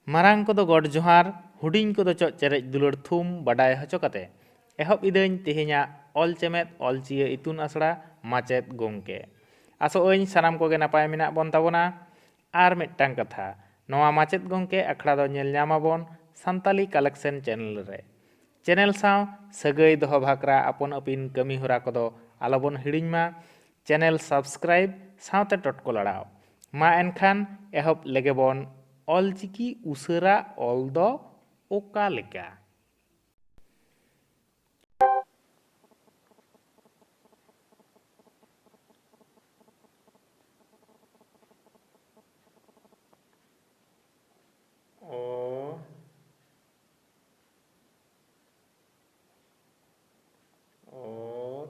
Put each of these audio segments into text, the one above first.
ᱢᱟᱨᱟᱝ ᱠᱚᱫᱚ ᱜᱚᱰ ᱡᱚᱦᱟᱨ, ᱦᱩᱰᱤᱧ ᱠᱚᱫᱚ ᱪᱚᱜ ᱪᱮᱨᱮᱡ ᱫᱩᱞᱟᱹᱲ ᱛᱷᱩᱢ ᱵᱟᱰᱟᱭ ᱦᱚᱪᱚ ᱠᱟᱛᱮ ᱮᱦᱚᱵ ᱤᱫᱟᱹᱧ ᱛᱮᱦᱮᱧᱟᱜ ᱚᱞ ᱪᱮᱢᱮᱫ ᱚᱞ ᱪᱤᱭᱟᱹ ᱤᱛᱩᱱ ᱟᱥᱲᱟ ᱢᱟᱪᱮᱛ ᱜᱚᱝᱠᱮ᱾ ᱟᱥᱚᱜ ᱟᱹᱧ ᱥᱟᱱᱟᱢ ᱠᱚᱜᱮ ᱱᱟᱯᱟᱭ ᱢᱮᱱᱟᱜ ᱵᱚᱱ ᱛᱟᱵᱚᱱᱟ᱾ ᱟᱨ ᱢᱤᱫᱴᱟᱝ ᱠᱟᱛᱷᱟ, ᱱᱚᱣᱟ ᱢᱟᱪᱮᱛ ᱜᱚᱝᱠᱮ ᱟᱠᱷᱲᱟ ᱫᱚ ᱧᱮᱞ ᱧᱟᱢ ᱟᱵᱚᱱ ᱥᱟᱱᱛᱟᱞᱤ ᱠᱟᱞᱮᱠᱥᱮᱱ ᱪᱮᱱᱮᱞ ᱨᱮ᱾ ᱪᱮᱱᱮᱞ ᱥᱟᱶ ᱥᱟᱹᱜᱟᱹᱭ ᱫᱚᱦᱚ ᱵᱷᱟᱠᱨᱟ ᱟᱯᱚᱱ ᱟᱹᱯᱤᱱ ᱠᱟᱹᱢᱤ ᱦᱚᱨᱟ ᱠᱚᱫᱚ ᱟᱞᱚ ᱵᱚᱱ ᱦᱤᱲᱤᱧ ᱢᱟ᱾ ᱪᱮᱱᱮᱞ ᱥᱟᱵᱥᱠᱨᱟᱭᱤᱵ ᱥᱟᱶᱛᱮ ᱴᱚᱴᱠᱚ ᱞᱟᱲᱟᱣ᱾ ᱢᱟ ᱮᱱᱠᱷᱟᱱ ᱮᱦᱚᱵ ᱞᱮᱜᱮᱵᱚᱱ ᱚᱞᱪᱤᱠᱤ ᱩᱥᱟᱹᱨᱟ ᱚᱞ ᱫᱚ ᱚᱠᱟ ᱞᱮᱠᱟ? ᱚ, ᱚᱛ᱾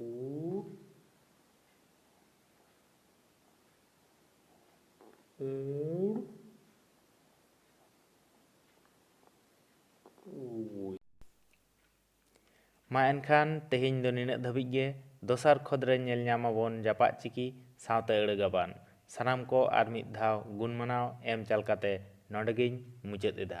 O Old Old ᱢᱟ ᱮᱱᱠᱷᱟᱱ ᱛᱮᱦᱮᱧ ᱫᱚ ᱱᱤᱱᱟᱹᱜ ᱫᱷᱟᱹᱵᱤᱡ ᱜᱮ ᱫᱚᱥᱟᱨ ᱠᱷᱚᱫ ᱨᱮ ᱧᱮᱞ ᱧᱟᱢ ᱟᱵᱚᱱ ᱡᱟᱯᱟᱜ ᱪᱤᱠᱤ ᱥᱟᱶᱛᱮ ᱟᱹᱲᱟᱹ ᱜᱟᱵᱟᱱ ᱥᱟᱱᱟᱢ ᱠᱚ ᱟᱨ ᱢᱤᱫ ᱫᱷᱟᱣ ᱜᱩᱱ ᱢᱟᱱᱟᱣ ᱮᱢ ᱪᱟᱞ ᱠᱟᱛᱮ ᱱᱚᱰᱮ ᱜᱮᱧ ᱢᱩᱪᱟᱹᱫ ᱮᱫᱟ᱾